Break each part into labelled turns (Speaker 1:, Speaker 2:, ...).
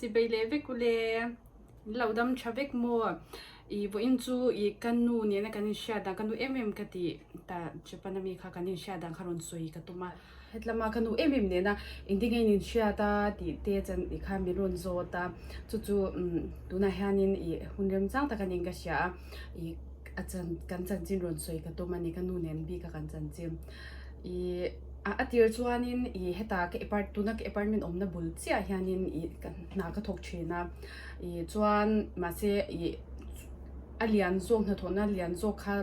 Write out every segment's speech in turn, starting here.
Speaker 1: Chi bei leh vek ule, in lo dam tha vek maw? I vawiin chu i ka nu nena kan inhriat dan, ka nu em em ka ti ta, Japan ami kha kan inhriat dan kha rawn sawi ka tum a, hetlama ka nu em em nena indingain in hriat a tih te chuan i kha min rawn zawt a, chu chu tunah hianin i hun remchang taka niin ka hria a, i a chan kan chanchin rawn sawi ka tum a ni, ka nu nen bik a kan chanchin. Ih, a tir chuanin ih heta ka apart tuna ka apartment awmna bul chiah hianin ih ka hna ka thawk thin a. Ih chuan mahse ih a lian zawk hnathawhna lian zawk kha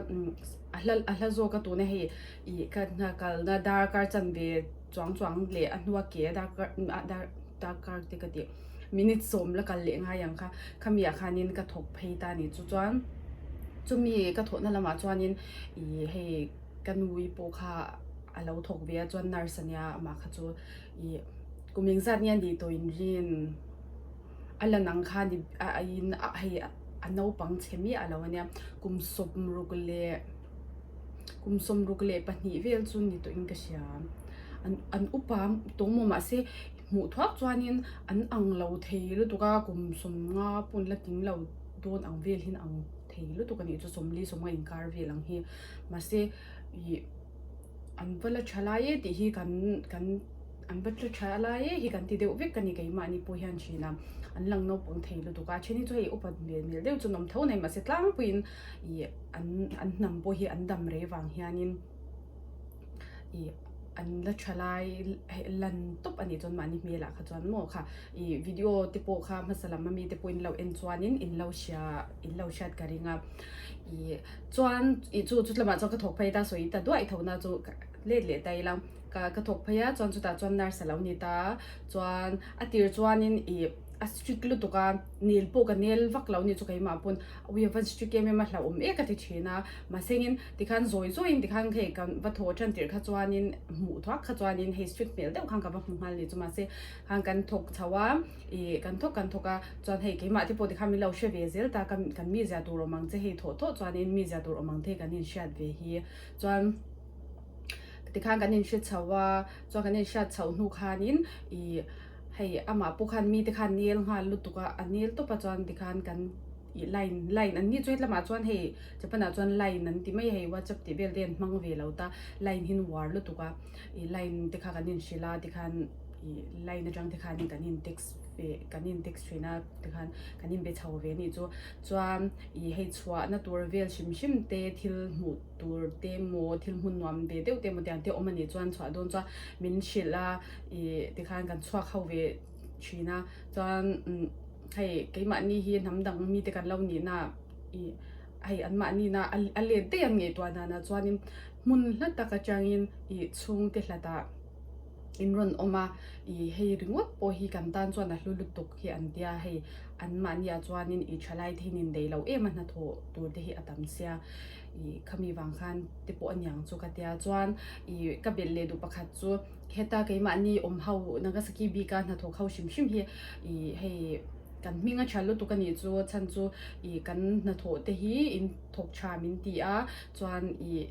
Speaker 1: a hla a hla zawk a tuna hei ih ka hna kalna darkar chanve chuang chuang leh a hnua ke darkar a dar darkar te ka tih minute sawm la kal leh ngai ang kha khami ah khanin ka thawk phei ta a ni. Chu chuan chumi ka thawhna lamah chuanin ih hei. Ka nui pawh kha a lo thawk ve a, chuan nurse ania amah kha chu i ku meng zat nge a nih tawh in rin, a lan ang kha ni in hei a naupang chhe miah a lo ania, kum sawm ruk leh kum sawm ruk leh pahnih vel chu ni tawh in ka hria, an upa tawng maw mah se hmuh thuak chuan in an ang lo thei lutuk a, kum sawm nga pawn la ting lo dawn ang vel hi an ang. thei lutuk a nih chu sawmli sawmnga inkar vel ang hi mahse ih an va la tha lai e tih hi kan kan an va la tha lai e hi kan ti deuh vek a ni keimahni pawh hian thin a an lang naupang thei lutuk a then hi chu hei upat hmel hmel deuh chu an awm tho a ni mahse tlangpuiin ih an an hnam pawh hi an dam rei vang hianin ih an la tha lai heh lan tawp a nih chuan mahni hmelah kha chuan maw kha. I video te pawh kha hmasa lama mi te pawhin lo en chuan in in lo hria in lo hriat ka ring a i chuan i chu chu tlama chuan ka thawk phei ta sawi ta duai tho na chu let leh ta ila ka ka thawk phei a chuan chu ta chuan nurse alo ni ta chuan a tir chuan in i a strict lutuk a nil pawh ka nel vak lo ni chu kei mah pawn awi a van strict em em a hla awm ek a ti thin a mahse ngin tikhan zawi zawi in tikhan hei kan va thaw a tan tir kha chuan in hmuh thuak kha chuan in hei strict hmel deuh khan ka va hmu nghal ni chu mahse Khan kan thawk chho a, ih kan thawk kan thawk a, chuan hei keimah te pawh tikhan min lo hre ve zel ta, kan kan mi zia tur awm ang che hei thawh thawh chuanin mi zia tur awm ang te kan in hriat ve hi, chuan tikhan kan in hre chho a, chuan kan in hriat chho hnu khanin ih hei amah pawh khan mite khan nel nghal lutuk a, a nel tawp a chuan tikhan kan ih line line an ni chu hetlamah chuan hei Japan ah chuan line an ti mai a, hei WhatsApp tih vel te an hmang ve lo ta, line hi an uar lutuk a, ih line te kha kan in hrilh a tikhan. Line atang te khan kan in text ve kan in text thin a te khan kan in be chho ve anih chu chuan ih hei chhuah na tur vel hrim hrim te thil hmuh tur te maw thil hmun nuam ve deuh te maw te ang te awm anih chuan chhuah dawn chuan min hrilh a ih te khan kan chhuak ho ve thin a chuan hei keimahni hi hnam dang mi te kan lo nih na ih hei an mahni na a let daih an ngei tuah dan ah chuan in hmun hla tak atang in ih chhung te hlat ah. In rawn awm a, i hei ringawt pawh hi kan tan chuan a hlu lutuk hi an tia, hei anmahni ah chuanin i thalai te hian in dei lo em a hna thawh tur te hi a tam sia, i khami vang khan te pawh aniang chu ka tia chuan i ka belh leh duh pakhat chu heta keimahni awm ho Nagasaki bik a hna thawk ho hrim hrim hi i hei kan hming a tha lutuk a nih chu chhan chu i kan hna thawh te hi in thawk tha min ti a chuan i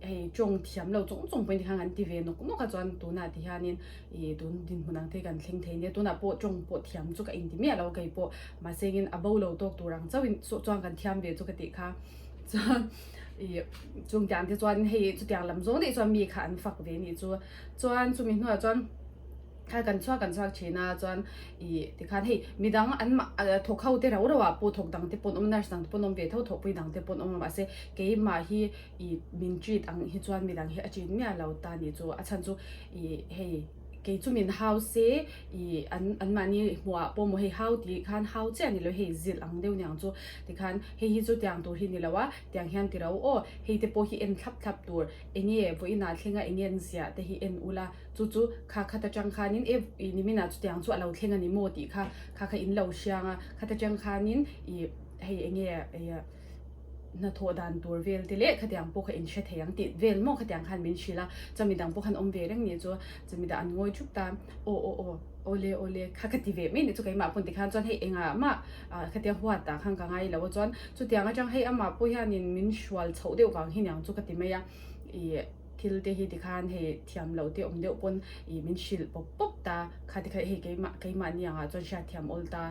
Speaker 1: hei tawng thiam lo chawng chawng pawh in tikhan kan ti ve nawk nawk a chuan tunah ti hian in i tun dinhmun ang te kan thleng thei nia tunah pawh tawng pawh thiam chu ka in ti miah lo kei pawh mahse engin a bo lo tawk tur ang chauh in saw chuan kan thiam ve chu ka tih kha chuan i chung tiang te chuan hei chutiang lam zawng daih chuan mi kha an fak ve nih chu chuan chumi hnuah chuan Thla kan chhuak kan chhuak thin a chuan i tikhan hei midang an mah thawk ho te rau rau ah pawh thawk dang te pawn awm nurse dang te pawn awm ve tho tho pui dang te pawn awm mah se keimah hi i min treat ang hi chuan midang hi a treat miah lo ta ni chu a chhan chu i hei kei chu min hau se i an an mahni hmuh ah pawh maw hei hau tih khan hau chiah ni lo hei zilh ang deuh niang chu tikhan hei hi chu tiang tur hi ni lo a tiang hian ti rau aw hei te pawh hi en thlap thlap tur enge vawiinah thlenga enge an ziah te hi en ula. Chu chu kha khat atang khanin e ih Nimina chutiang chu a lo thleng a ni maw tih kha kha kha in lo hriang a, khat atang khanin ih hei eng nge eia hnathawh dan tur vel te leh khatiang pawh kha in hre thei ang tih vel maw khatiang khan min hrilh a, chumi dang pawh khan awm ve reng nih chu chumi dah an ngawi thup ta, aw aw aw awle awle kha kha ti ve mai nih chu keimah pawn tikhan chuan hei engah mah ah khatiang huat ah khan ka ngai lo a chuan chutiang atang hei amah pawh hianin min hrual chhoh deuh vang hi niang chu ka ti mai a ih. Thil te hi ti khan hei thiam loh te awm deuh pawn ih min hrilh pawp pawp ta, kha tikha hei keimah keimah ni angah chuan hriat thiam awl ta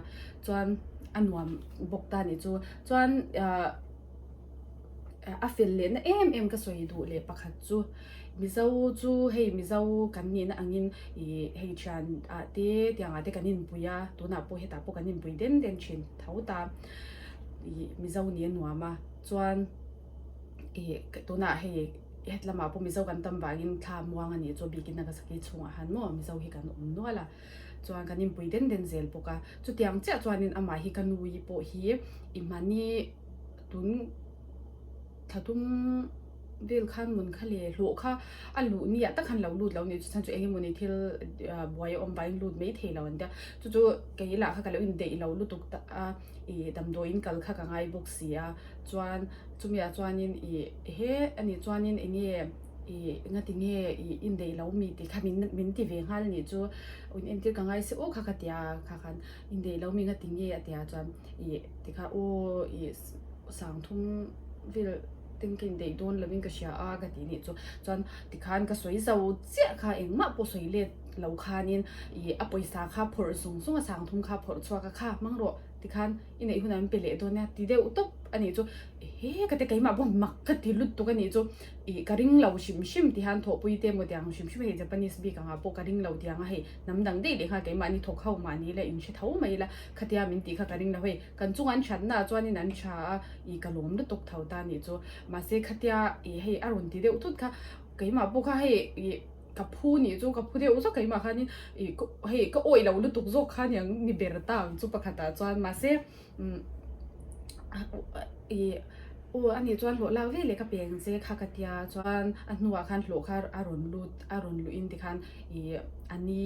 Speaker 1: chuan a nuam bawk ta nih chu chuan ah a fel leh na em em ka sawi duh leh pakhat chu Mizo chu hei Mizo kan nih na angin ih hei thian ah te ti angah te kan inpui a, tunah pawh hetah pawh kan inpui den den thin tho ta ih Mizo nia nuam a chuan. tunah hei hetlamah pawh mizo kan tam vangin thla muang a nih chu a bikin a ka sakei chhungah han maw mizo hi kan awm nual a chuan kan inpui den den zel bawk a chutiang chiah chuanin amah hi ka nu hi pawh hi i hmani tun thla tum vel khan mun kha le hlawh kha a luh ni ah tak khan lo lut lo nih chu chan chu eng emaw ni thil buai awm vangin lut mai thei lo an tia chu chu kei lah kha ka lo indaih lo lutuk tak a. i damdawi in kal kha ka ngai bawk si a chuan chumi ah chuan in i he ani chuan in eng nge i ngati nge i indaih lo mi ti kha min min ti ve nghal nih chu in entir ka ngai se u kha ka ti a kha khan indaih lo mi ngati nge a ti a chuan i ti kha u i sang thum vel ten ka indaih dawn lo in ka hria a ka ti nih chu chuan ti khan ka sawi zau chiah kha engmah pawh sawi let-- lo khanin i a pawisa kha phawrh sung sung a sang thum kha phawrh chhuak a kha hmang rawh ti khan i neih hunah min pe leh dawn nia ti deuh tawp a nih chu he ka te keimah pawh mak ka ti lut tuk a nih chu i ka ring lo hrim hrim ti han thawhpui te emaw tiang hrim hrim a ni Japanese bik angah pawh ka ring lo tiang a hei hnam dang daih leh kha keimah ni thawk ho mah ni la in hre tho mai ila khatia min tih kha ka ring lo hei kan chunga an thatna ah chuan in an tha a i ka lawm lutuk tho ta nih chu mahse khatia i hei a rawn ti deuh tut kha keimah pawh kha hei i. Ka phu nih chu ka phu deuh zawk keimah khanin ih hei ka awih lo lutuk zawk kha nia ni ber ta ang chu pakhatah chuan mahse ih aw ani chuan hlawh lak veleh ka peng che kha ka tia chuan a hnuah khan hlawh kha a rawn lut a rawn luh in tikhan ih ani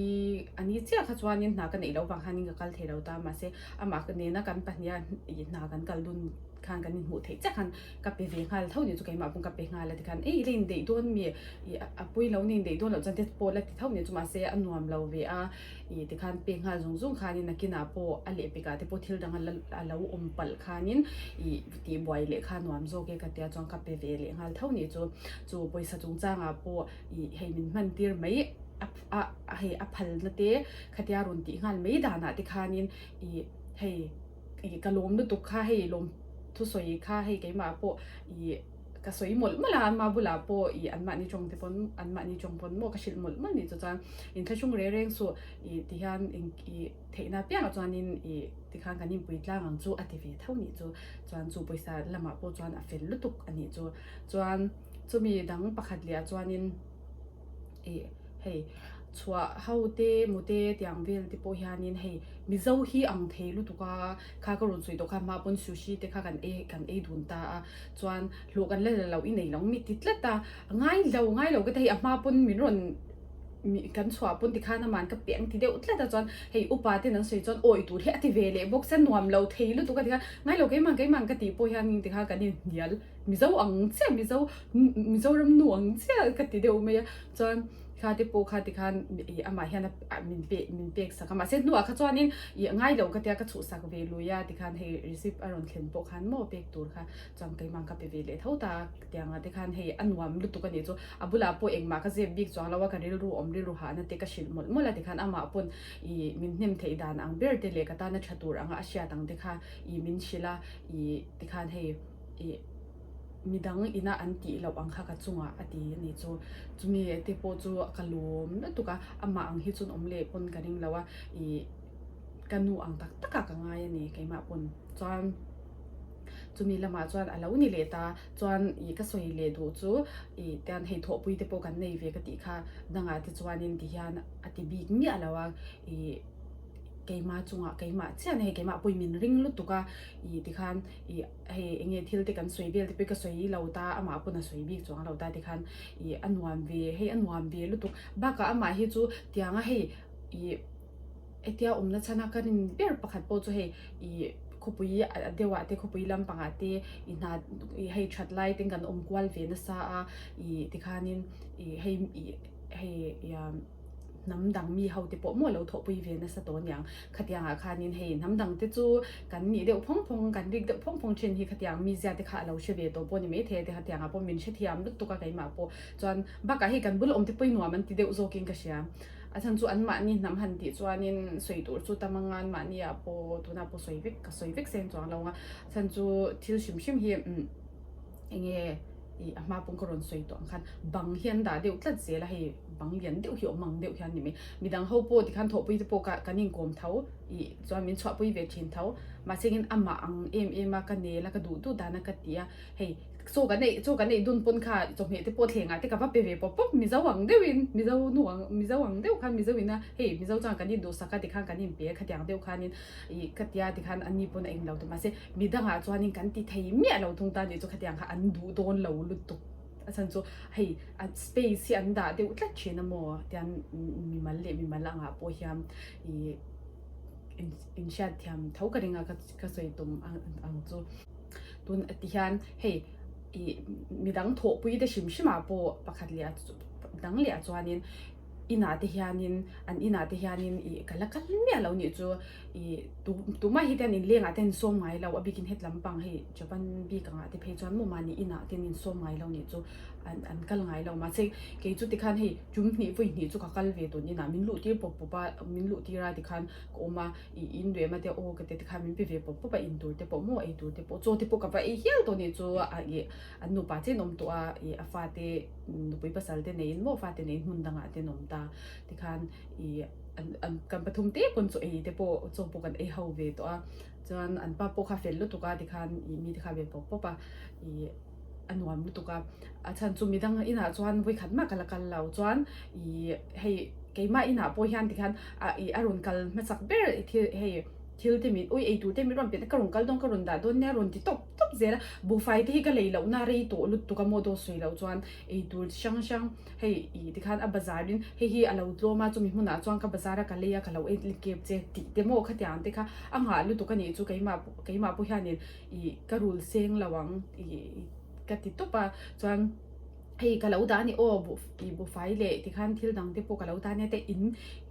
Speaker 1: ani chiah kha chuanin hna ka neih loh vang khanin ka kal thei lo ta mahse amah nena kan pahniha ih hna kan kal dun khan kan inhmuh theih che khan. ka pe ve nghal tho ni chu keimah pawh ka pe nghal a ti khan ei i la indaih dawn a mi ih a pui lo na indaih dawn loh chuan te chu pawh a la ti tho ni chu mahse a nuam lo ve a ih ti khan pek nghal zawng zawng khan in a kinah pawh a leh pekah te pawh thil dang a la a lo awm palh khan in ih tihbuai leh kha nuam zawk e ka tia chuan ka pe ve leh nghal tho ni chu chu pawisa chung chang ah pawh ih hei min hman tir mai a a hei a phal na te khatia rawn tih nghal mai dan ah te khan in ih hei ih ka lawm lutuk kha hei lawm thusawi kha hei keimah pawh ih ka sawi mawlh mawlh a an mah bulah pawh ih an mahni tawng te pawn an mahni tawng pawn maw ka hrilh mawlh mawlh nih chu chuan in thlahrung reng reng suh ih tihian in ih theihna apiangah chuanin ih tikhan kan inpui tlang ang chu a ti ve tho nih chu chuan chu pawisa lamah pawh chuan a fel lutuk a nih chu chuan chumi dang pakhat lehah chuanin E. Hei chhuah ho te, mute tiang vel te pawh hianin hei Mizo hi ang thei lutuk a, kha ka rawn sawi tawh khan hma pawn Sushi te kha kan ei kan ei dun ta a, chuan hlawh kan la la loh i nei lo ngei ti tlat a, ngai lo ngai lo ka ti a hei a hma pawn min rawn kan chhuah pawn tikhan ama'n ka peng ti deuh tlat a, chuan hei upa ten an sawi chuan aw i tur hi a ti ve leh bawk sia nuam lo thei lutuk a ti kha ngai lo keimang keimang ka tih pawh hian engtikha kan inhnial. Mizo ang chiah Mizo Mizoram nu ang chiah ka ti deuh mai a chuan kha te pawh kha tikhan ih amah hian a min pek min pek sak a mahse hnua kha chuan in ih ngai lo ka tia ka chhuh sak ve lui a tikhan hei receipt a rawn thlen pawh khan maw pek tur kha chuan keimang ka pe ve leh tho ta tiang a tikhan hei a nuam lutuk a nih chu a bulah pawh engmah ka zep bik chuang lo a ka rilru awm rilru hah na te ka hrilh mawlh mawlh a tikhan amah pawn ih min hnem theih dan ang ber te leh ka tana tha tur anga a hriat ang te kha ih min hrilh a ih tikhan hei Ih, midang inah an tih loh ang kha ka chungah a ti a nih chu. Chumi te pawh chu ka lawm lutuk a, amah ang hi chuan awm leh pawn ka ring lo a, ih, ka nu ang tak takah ka ngai a ni keimah pawn. Chuan chumi lamah chuan a lo ni leh ta chuan ih, ka sawi leh duh chu ih, tian hei thawhpui te pawh kan nei ve ka tih kha dangah te chuanin ti hian a ti bik miah lo a, ih, keimah chungah keimah chianin hei keimah pawhin min ring lutuk a. Ih tikhan ih hei enge thil te kan sawi vel te pawh i ka sawi lo ta amah pawn a sawi bik chuang a lo ta tikhan ih a nuam ve hei a nuam ve lutuk bakah amah hi chu tianga hei ih hetia awmna chhana ka rin ber pakhat pawh chu hei ih khawpui a deuhah te khawpui lampangah te ih hna ih hei that lai ten kan awm kual ve nasa a ih tikhanin ih hei ih hei ih a. hnam dang mi hote pawh maw lo thawhpui ve nasa tawh niang. Khatianga khanin hei hnam dangte chu kan nih deuh phawng phawng, kan rik deuh phawng phawng thin hi khatiang mizia te kha a lo hre ve tawh pawh ni maithei a ti. Khatianga pawh min hrethiam lut tuk a keimah pawh. Chuan bakah hei kan bul awmte pawh i nuam an ti deuh zawkin ka hria. A chhan chu anmahni hnam han tih chuanin sawi tur chu tam anga anmahnia pawh tunah pawh sawi vek, ka sawi vek seng chuang lo ang a. A chhan chu thil hrim hrim hi umm. Enge i a hma pawng ka rawn sawi tawh ang khan bang hian dah deuh tlat zel a hei bang lian deuh hi awm ang deuh hian ni mai midang ho pawh tikhan thawhpui te pawh ka kan inkawm tho i chuan min chhuahpui ve thin tho mahse angin a mah ang em em a ka nel a ka duh duh dan a ka ti a hei chaw ka neih chaw ka neih dun pawn kha chawhmeh te pawh thlengah te ka va pe ve pawp pawp mizo ang deuh in mizo nu ang mizo ang deuh khan mizo ina hei mizo chuan kan induhsak a tikhan kan inpe khatiang deuh khanin. i ka tia ti khan ani pawn a ing lo ta mahse mi dangah chuanin kan ti thei miah lo thung tan tih chu khatiang kha an duh dawn lo lutuk a chhan chu hei a space hi an dah deuh tlat thin a maw tian mimal leh mimal angah pawh hian i in in hriat thiam tho ka ringa ka ka sawi tum ang ang chu tun a ti hian hei i midang thawhpui te hrim hrima pawh pakhat leh a dang leh a chuanin Inah te hianin, an inah te hianin i ka la kal miah lo nih chu i tu tumai hi te an inleng ah te an sawm ngai lo a bikin het lam pang hei japan bik angah te phei chuan mawma ni inah te an in sawm ngai lo nih chu an an kal ngai lo mahse kei chu tikhan hei tum hnih vawi hnih chu ka kal ve tun inah min luh tir pawp pawp a min luh tir a tikhan ka awm a i in leh mate aw ka ti tikhan min pe ve pawp pawp a in tur te pawh maw ei tur te pawh chaw te pawh ka va ei hial tawh nih chu a i an nupa chen awm tawh a i a fate Nupui pasalte neiin maw fate neiin hmun dangah te an awm ta tikhan i an kan pathum te pawn chu eite pawh chaw pawh kan ei ho ve tawh a chuan an pa pawh kha fel lutuk a tikhan i mite kha ve pawp pawp a i a nuam lutuk a a chhan chu midang inah chuan vawikhat mak ala kal lo chuan i hei keimah inah pawh hian tikhan a i a rawn kal hmachak ber thil hei thil te min ui eitute min rawn pe ka rawn kal dawn ka rawn dah dawn nia rawn ti tawp. tawp zel a, buhfai te hi ka lei lohna rei tawh lut tuk a maw daw sawi loh chuan ei tur chi hrang hrang hei ih tikhan a bazar in hei hi a lo tlawm a chumi hmunah chuan ka bazar a ka lei a ka lo en tlik kep che tih te maw khatiang ang te kha a nghah lutuk a nih chu keimah pawh keimah pawh hian in ih ka rul seng lo ang ih ka ti tawp a chuan Hei ka lo dah a ni aw i bu fai le ti khan thil dang te pawh ka lo dah a nia te in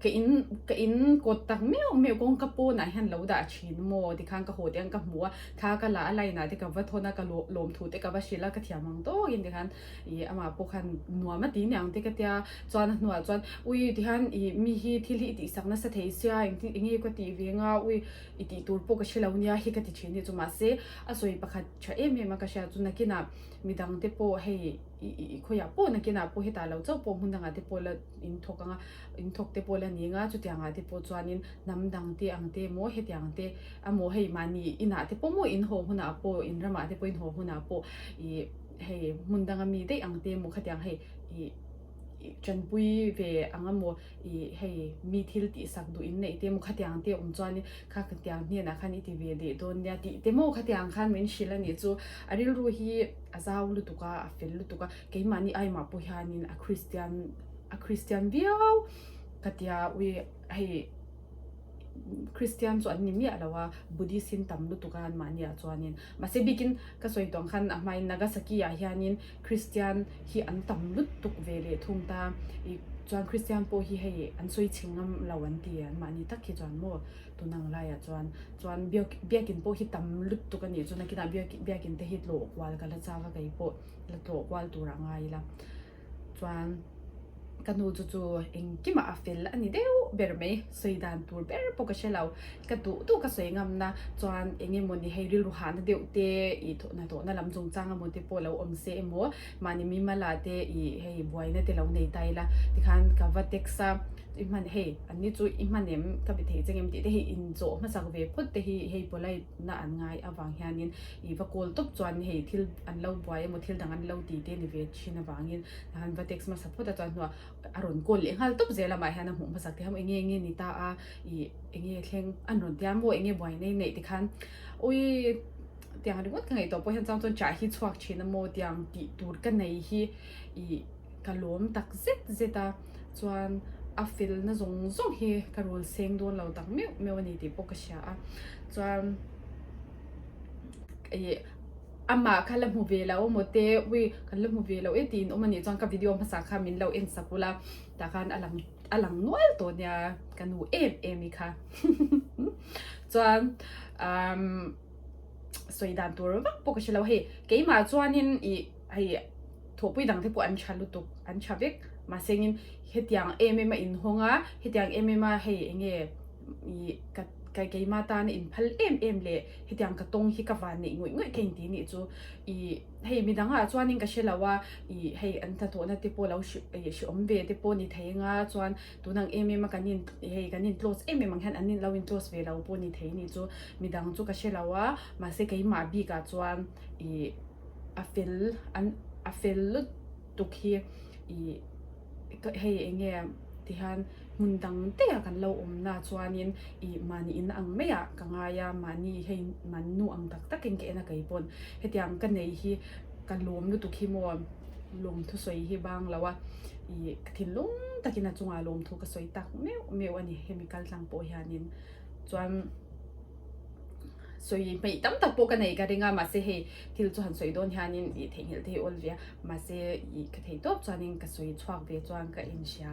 Speaker 1: ka in ka in kawt tak meuh meuh kawng ka pawn ah hian lo dah thin maw ti khan ka haw tih ang ka hmu a tha ka la a line ah te ka va thawn a ka lawm thu te ka va hrilh a ka thiam ang tawk in ti khan i amah pawh khan nuam a ti ni ang te ka tia chuan a hnu ah chuan ui ti khan i mi hi thil hi i tih sak nasa thei sia eng ti enge ka tih ve nga ui i tih tur pawh ka hre lo nia hi ka ti thin hi chu mahse a sawi pakhat tha em em a ka hria chu nakin ah Mi dangte pawh hei i khawiah pawh nakinah pawh hetah lo chauh pawh hmun dangah te pawh la in thawk anga, in thawk te pawh la ni anga, chutiangah te pawh chuanin hnam dangte ang te maw hetiang te amaw hei mahni inah te pawh maw in haw hunah pawh in ramah te pawh in haw hunah pawh i hei hmun danga mi daih ang te maw khatiang hei i i tanpui ve ang amaw. ih hei mi thil tih sak duh in neih te maw khatiang te awm chuan in kha khatiang hnianah khan i ti ve leh dawn nia tih te maw khatiang khan min hrilh a nih chu a rilru hi a zau lutuk a a fel lutuk a keimahni ai mah pawh hian in a kristian a kristian viau ka tia ui hei kristian chu an ni miah lo a buddhist in tam lutuk a an mahni ah chuan in mahse bik in ka sawi tawng khan a hma in nagasaki ah hian in Kristian hi an tam lutuk ve leh thung ta i chuan Kristian pawh hi hei an sawi chhing ngam lo an ti e, anmah ni tak hi chuan maw tun ang laiah chuan chuan biak biakin pawh hi tam lutuk a nih chu nakinah biak biakin te hi tlawhkual ka la chak a kei pawh la tlawhkual tur a ngai ila chuan ka nu chu chu engkimah a fel a ni deuh ber mai sawi dan tur ber bawk a hre lo ka duh duh ka sawi ngam na chuan eng emaw ni hei rilru hahna deuh te ih thawh hna tawh na lam zung chang emaw te pawh lo awm se emaw mahni mi mala te ih hei buai na te lo nei ta ila ti khan ka va text a i hman hei an ni chu i hman em ka be thei cheng em tih te hi in zawh hma sak ve phawt te hi hei polite na an ngai avang hian in i va call tawp chuan hei thil an lo buai emaw thil dang an lo ti te ni ve thin avang in Han va text hmasa phawt a chuan hnu a a rawn call leh nghal tawp zel amah hian a hmuh hmasak thiam enge enge ni ta a ih enge thleng an rawn tiam maw enge buai nei neih tikhan ui tiang ringawt ka ngaih tawh pawh hian chang chuan chah hi chhuak thin a maw tiang tih tur ka nei hi ih ka lawm tak zet zet a chuan a fel na zawng zawng hi ka rul seng dawn lo tak meuh meuh a ni tih pawh ka hria a chuan ih. Amah kha la hmu ve la awm awte, ui kan la hmu ve lo e tiin awm a nih chuan ka video hmasa kha min lo en sak ula, tah khan a lang a lang nual tawh nia ka nu em em i kha chuan umm sawi dan tur vak pawh ka hre lo hei keimah chuanin i hei thawhpui dang te pawh an tha lutuk an tha vek mahsengin hetiang em em a inhawng a hetiang em em a hei enge i ka keima tana inphal em em leh Hetiang ka tawng hi ka van neih ngawih ngawih ka inti nih chu ih hei midangah chuanin ka hre lo a, ih hei an hnathawhna te pawh lo ih hriawm ve te pawh ni thei anga chuan tunang em em a kan in ih hei kan in close em em ang hian an lo in close ve lo pawh ni thei nih chu midang chu ka hre lo a, mahse keimah bikah chuan ih a fel an a fel lut tuk hi ih. Hei eng nge ti hian hmun dang teiah kan lo awmna chuanin i mahni in ang maiah ka ngai a, mahni hei man nu ang tak takin ka en a kei pawn. Hetiang ka nei hi ka lawm lutuk hi maw, lawm thusawi hi bang lo a, i ka thinlung takin a chungah lawm thu ka sawi tak meuh meuh a ni hemi kaltlang pawh hianin. Chuan. sawi hmeih tam tak pawh ka nei ka ring a mahse hei thil chu han sawi dawn hianin ih theihnghilh te hi a awl ve a mahse ih ka thei tawp chuanin ka sawi chhuak ve chuan ka inhria.